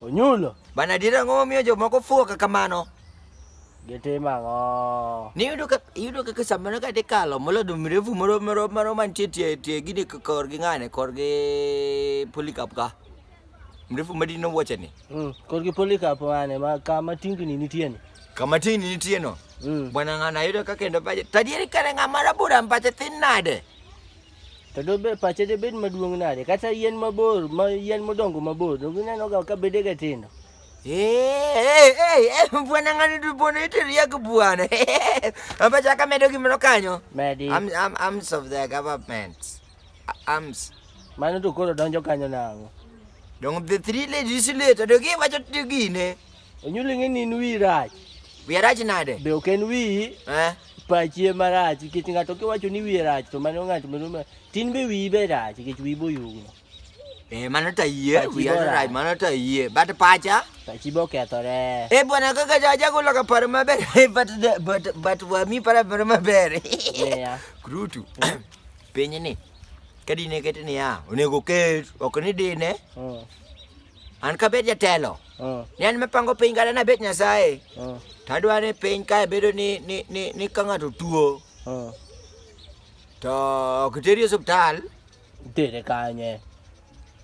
Onyulo. Bana adier ang'o momiyo jomoko fuwo kaka mano? Gitimo ang'o? Niyudo ka iyudo kaka samoro ka dhi kalo molado mrefu moro moro moro mantie tie tie gini k- korgi ng'ane korgi polycarp ka. Mrefu madino wuocheni. Mm. Korgi polikap mane ma kama tingni nitie ni. Kama tini nitie no. Mm. Bwana ng'ana yudo ka kendo pache. Tadieri kare ng'ama rabura mpache thin nade? to dobe pache debed maduong' nade kata yien mabor ma yien modongo mabor donge inenoga ka bedega tindo bwana ng'ani to bwana itiria gi bwana abacha ka medo gimoro kanyo medi Arm- arm- arms of the government arms mano to koro donjo kanyo nang'o dong the three ladies later to giwacho to gine Onyuoli ng'e ni in wiyi rach. Wiya rach nade? Be ok en wiyi. Eh? Pachi ema rach nikech ng'ato kiwacho ni wiye rach to mano ng'ato mano ma tin be wiyi be rach nikech wiyi boyugno. Eh, mano ta yie, Pachi wiya bora. rach, mano ta yie. But pacha? Pachi be okethore. Eh, bwana kaka jagolo ka paro maber. Eh, but, the- but, but wami para paro maber. Ng'eya. Krutu. Piny ni. Ka dine ket niya, onego ket, ok ni dine. Mm. An kabed jatelo, uh. ni an mapango piny kata nabet Nyasaye, uh. tadwa ni piny kae bedo ni, ni, ni, ni ka ng'ato tuo uh. to ok iteri e osiptal itere kanye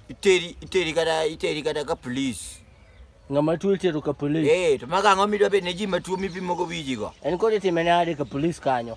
iteri iteri kata iteri kata ka police ng'ama tuo itero ka police eh to maga ang'o midwa bed ne ji matuo mipimogo wijigo en kod itime nade ka police kanyo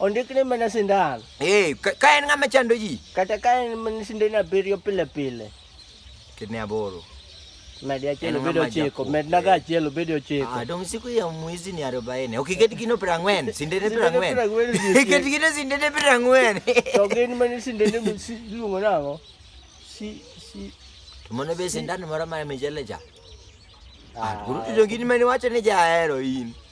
Ondikne mana sindan. Eh, ka- ka en ng'ama chando ji Kata ka en mana sindan abiriyo pile pile. ketne aboro Medi achiel En obed ng'ama ochiko. jakuo. Medna ga achiel obed ochiko. Ah, dong siku ya mwizi ni arobaini ok iket gino piero ang'wen sindene piero Sindene piero ang'wen ang'wen nitie. iket gino sindene piero ang'wen To gin mana sindan iluongo nang'o? Si si to mano be sindan moro mar michele cha Ah, Ah, koro to gin mane wacho ni jahero in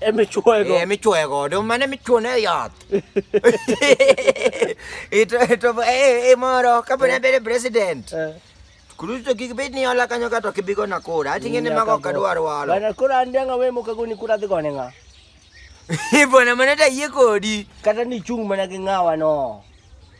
emichwego emichwe godo mane michwone e yath ito ito e e moro kapo ne bedo president Eh, kuruto kik bed ni ola kanyo kato kibigo na kura atinge ne mago nyaka kadwar go. walo Bana koro an danga we moka goni kura dhi gone nga ibona mane ta yie kodi kata ni chung mana gi ngawa no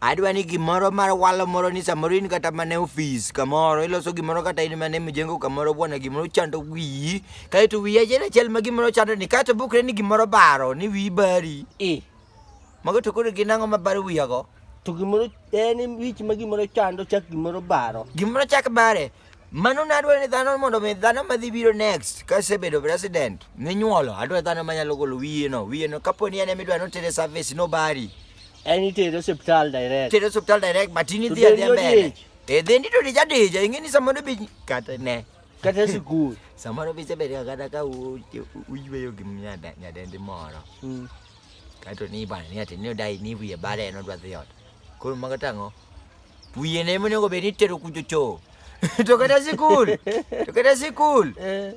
Adwa ni gimoro mar walo moro ni samoro in kata mana e ofis kamoro iloso gimoro kata in mana e mjengo kamoro bwana gimoro chando wiyi kaeto wiyi achiel achiel ma gimoro chando ni kaeto bukre ni gimoro baro ni wiyi bari. Eh. Mago to koro gin ang'o ma baro wiyago? To gimoro en wich ma gimoro chando chak gimoro baro. Gimoro chak bare. Mano ne adwaro ni dhano mondo mi dhano madhi biro next ka sebedo president minyuolo adwaro dhano manyalo golo wiyeno wiyeno kapo ni en ema idwaro notere service nobari en itere osiptal direct tere osiptal direct but in idhi adhiya mbele e dhi ndito dija dija ing'e ni samoro bi kata ne kata sikul samoro bi sebedo kata ka uyweyo gi nyadendi moro hmm. kaeto ni ibane ni ati ni odai ni wiye bare en odwa dhi ot koro mago tang'o Wiye ne mune go beni tero kujo cho. to kata sikul. To kata sikul. Eh.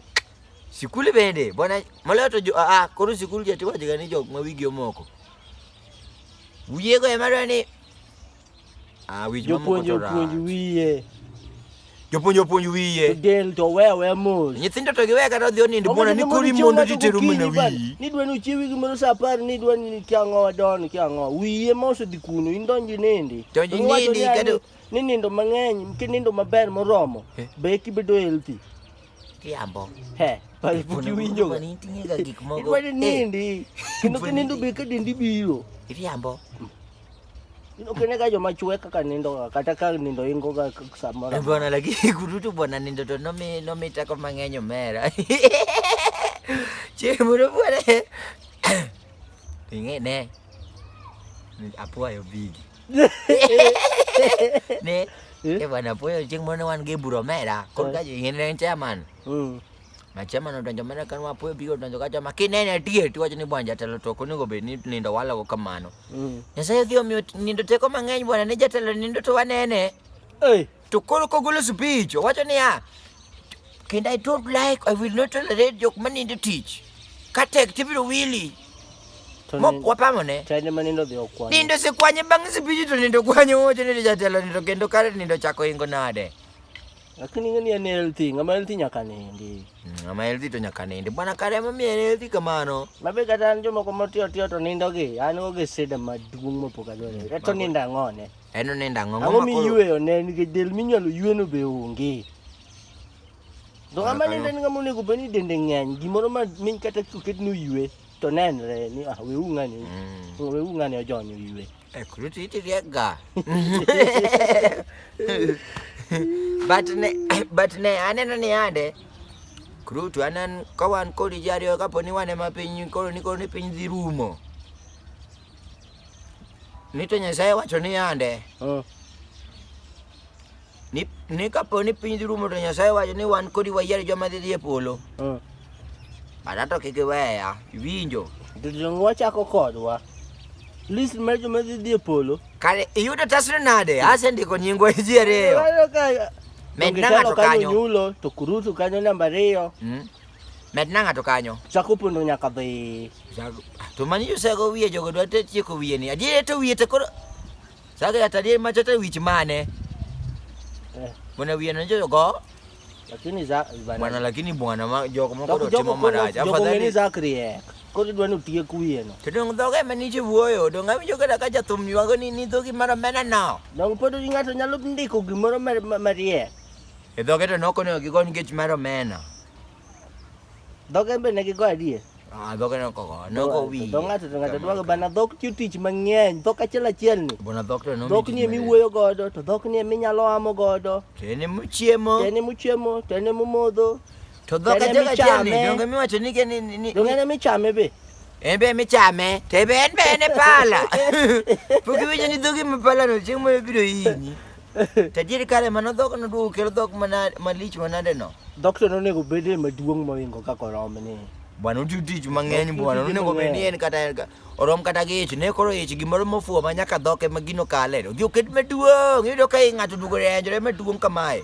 Sikul bende bwana maloyo to jo ah koro sikul jati waje gani jok ma wigi omoko. Wiye go emara ni Ah wich mamuko to. Jopuonjo puonj wiye. Jopuonj opuonj wiye. Del to we we mos. Nyithindo to giwe kata odhi onindo bwana ni kori mondo titeru mana wiyi. Ni dwa ni uchiewi gimoro saa apar ni dwa ni kia ang'o wadon kia ang'o. Wiye ma osedhi kuno in donji nindi. Donji nindi kado. Ni nindo mang'eny ki nindo maber moromo. Eh. Be kibedo healthy. Kiambo. He. Pale puki winjo. Kwa nini tinga gik mogo. Kwa nini eh. nindi. Kino kinindo be kadendi biro. Kiambo. Mm. Ukineka jo machwe kaka nindo kata ka nindo ingo ga samora. Bwana lakini kurutu bwana nindo to nomi nomi tako mang'eny omera. Che moro bwana. Ing'e ne. Apuayo bigi. Ne. Eh? Eh bwana apuayo chieng' moro ne wan gi buro omera. Korka jo ing'e ne chairman. Mm. Machema no donjo mana kan wapo biro donjo kacha makinene atie ti wacho ni bwanja telo to konego bed ni nindo walago kamano. Mm. Nyasaye odhi omiyo nindo teko mang'eny bwana ne jatelo nindo to wanene. Hey. To koro kogolo speech owacho niya kendo I don't like I will not tolerate jok manindo tich. Katek tibiro wili. wapamone nindo sikwanye bang' sipichi to nindo kwanye wocho ni jatelo nindo kendo kare nindo chako ingo nade Lakini ngani ya healthy, ngama healthy nyaka nindi. Mm, ngama healthy to nyaka nindi. Bwana kare mami ya healthy kamano. Mabe kata njo moko motio tio to nindo gi, an oge sida maduong mopoka dole. Mm, Eto ninda ngone. Eno ninda ngone. Ango mi yue one ni del minyalo yue no be onge. Do ngama ninde ni ngama onego bani dende ngany, gimoro ma min kata kuket no yue to nenre ni ah we ungani. Mm. We ungani ojonyo yue. Eh, Kuruti iti riega. But ne but ne aneno ni ande Kurutu anan ka wan kodi ji ariyo kapo ni wan ema piny koro ni koro ni piny dhi rumo. Ni to Nyasaye wacho ni ande Ah, Ni, ni kapo ni piny dhi rumo to Nyasaye wacho ni wan kodi wayier joma dhi dhi e polo. Mm. Bana to kik iweya, iwinjo. To donge wachako kodwa? List mar joma dhi dhi e polo. Kare iyudo tasno nade? Asendiko nyingwa e ji ariyo. Walo ka- Med donge na ng'ato telo kanyo kanyo. nyulo to kurutu kanyo namba ariyo. Mm. Med na ng'ato kanyo. Chako pondo nyaka dhi. Jago- To mani josego wiye jogo dwa te tieko wiye ni. Adier to wiye to koro Saka ya tadi machata wich mane? Eh. Mwana wiye na njoyo go? Lakini za bana. Mwana lakini bwana ma joko moko do timo maraja. Afadhali ni Zakri eh. Kodi dwani utie kuye no. Kodi ndo ga mani chi wuoyo, do ngami joga da kaja thum ywago ni ni dhogi mara mena no. Dong podo ni ngato nyalo ndiko gimoro marie. E dhoge to noko ne gigo nikech mara mena. Dhoge be ne gigo adie. Ah, dhok en koko, en koko wi. Dho ng'ato to ng'ato dwa bana dhok tiyo tich mang'eny, dhok achiel achiel ni. Bona dhok to no. Dhok ni emi wuoyo godo, to dhok ni emi nyalo amo godo. To en emi chiemo. To en emi chiemo, to en emi modho. To dhok achiel achiel ni, donge miwacho ni ke ni ni. Donge en emi chame be. En be emi chame, to en be en e pala. Pok iwinjo ni dhogi ma pala no chieng' moro biro hinyi. Tajiri kare mano dhok no duogo kelo dhok mana malich manade no. Dhok to nonego bede maduong' moingo kaka orom ni. Bwana uti tich mang'eny bwana nonego bed ni en kata orom kata gi ich ne koro ich gimoro mofuo ma nyaka dhok ema gino kale. Odhi oket maduong' iyudo ka ng'ato duogo renjore maduong' kamae.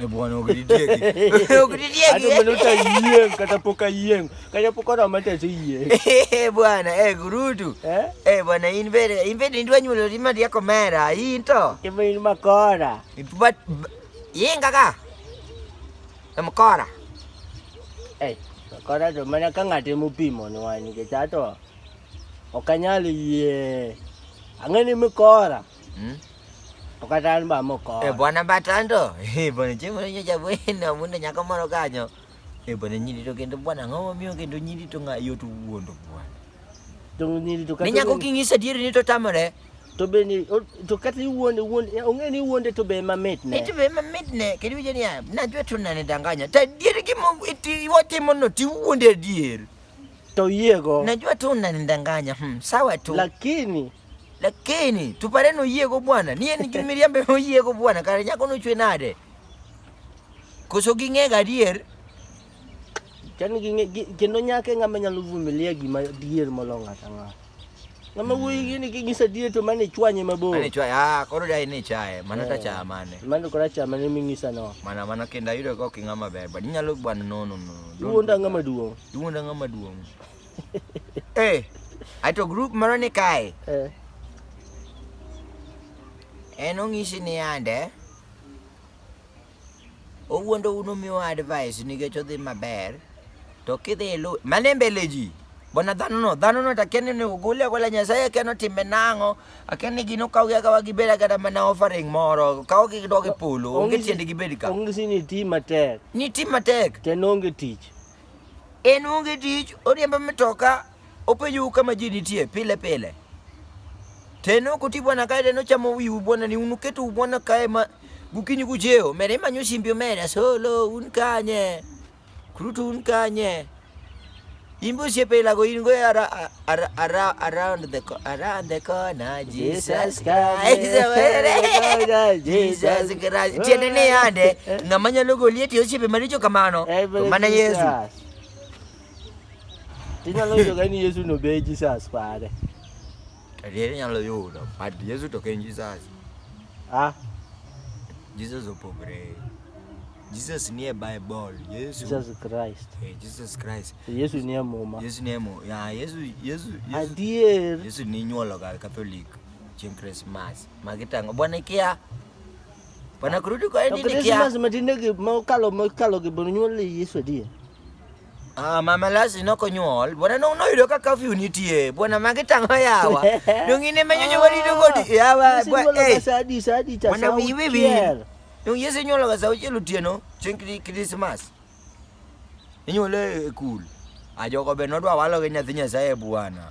Eh, bwana ukidideki. Ukidideki. Hata mbona utayieng kata pok ayieng. Kata pok oroma to aseyieng. Eh bwana, eh gurudu. Eh? Eh bwana in bere, in bere ndwa nyulo rima dia komera, in to. Kema in makora. But yin kaka. E makora. Eh, makora to mana ka ng'ate mopimo ni wani ke chato. Okanyal yie. Ang'ani makora. Hmm? Ukatani ba moko. Eh bwana batando. Eh bwana chemo nyo cha bwana mundo nyaka moro kanyo. Eh bwana nyiri to kendo bwana ngomo miyo kendo nyiri to nga yotu wuondo bwana. To nyiri to kata. Nyako kingisa dieri ni to tamore. To be ni to kata wuonde wuonde onge ni wuonde to be mamit ne. Eh, to be mamit ne kendo je ni ya. Na jwe to nane danganya. Ta dieri ki mo iti wotimo no ti wuonde dieri. Toyiego. Najua tu unanidanganya. Hmm, sawa tu. Lakini lakini tupare no yego bwana niye nijumiria mbe no yego bwana kare nyako no chwe nade koso ging'e gadier kendo nyake ng'ama nyalo vumilia gima dier molong'o atang'ato Kama wewe yini kigisa die to mane chwanye mabor. Mane chwanye ah koro dai ni chae mana ta eh, cha mane. Mane kora cha mane mingisa no. Mana mana kenda yudo ko kinga maber but nyalo bwana no no no. Duonda ngama duong. Duonda ngama duong. Eh. Ato group moro ni kae. Eh. En ong'isi ni ande. Owuondo uno miwa advice nikech odhi maber. To kidhi ilu, mane mbele ji. Bona dhano no, dhano no takeni ni ugule agola nyasaye akeno timbe nang'o. Akeni gino kaw gi akawa gibed agada mana offering moro. Kaw gi dog e polo, onge tiende gibed ka. Ongisi ni ti matek. Ni ti matek. Ten onge tich. En onge tich, oriembo mitoka, Opeju kama ji nitie pile pile. Teno kuti bwana kae teno chamo wiu bwana ni unuketu bwana kae ma gukinyi kucheo mere manyo simbi omera solo un kanye kurutu un kanye imbe osiepe ilago in go ara, ara, ara, around the co- around the corner Jesus Christ Jesus Christ tiende ni yande ng'ama nyalo goli eti osiepe maricho kamano to mana Yesu Tinyalo yudo ka ni Yesu no be Jesus pare. Adier inyalo yudo, but Yesu to ok en Jesus. Ah, Jesus opogore. Jesus nie Bible. Yesu. Jesus Christ. Eh, Jesus Christ. Yesu ni e muma. Yesu nie mo. Ya, Yesu, Yesu, Yesu. Adier. Yesu ni nyuolo ga Catholic chieng' Christmas. Magi tango. Bwana ikia. Bwana kurudi kwa To endi Christmas ikia. matinde gi mokalo mokalo gi bonu nyuol Yesu adier. Ah, mama Lasi nok onyuol. Bwana no noyudo ka curfew nitie. Bwana magi tang'o yawa. Dong in ema nyonyo wadi to godi yawa. Bwa eh. Sadi sadi cha Bwana wi wi wi. Dong yesi nyuolo ga sauti lutieno. Chink di Christmas. Inyuole e cool. Ajogo be nodwa walo gi nyathi Nyasaye bwana.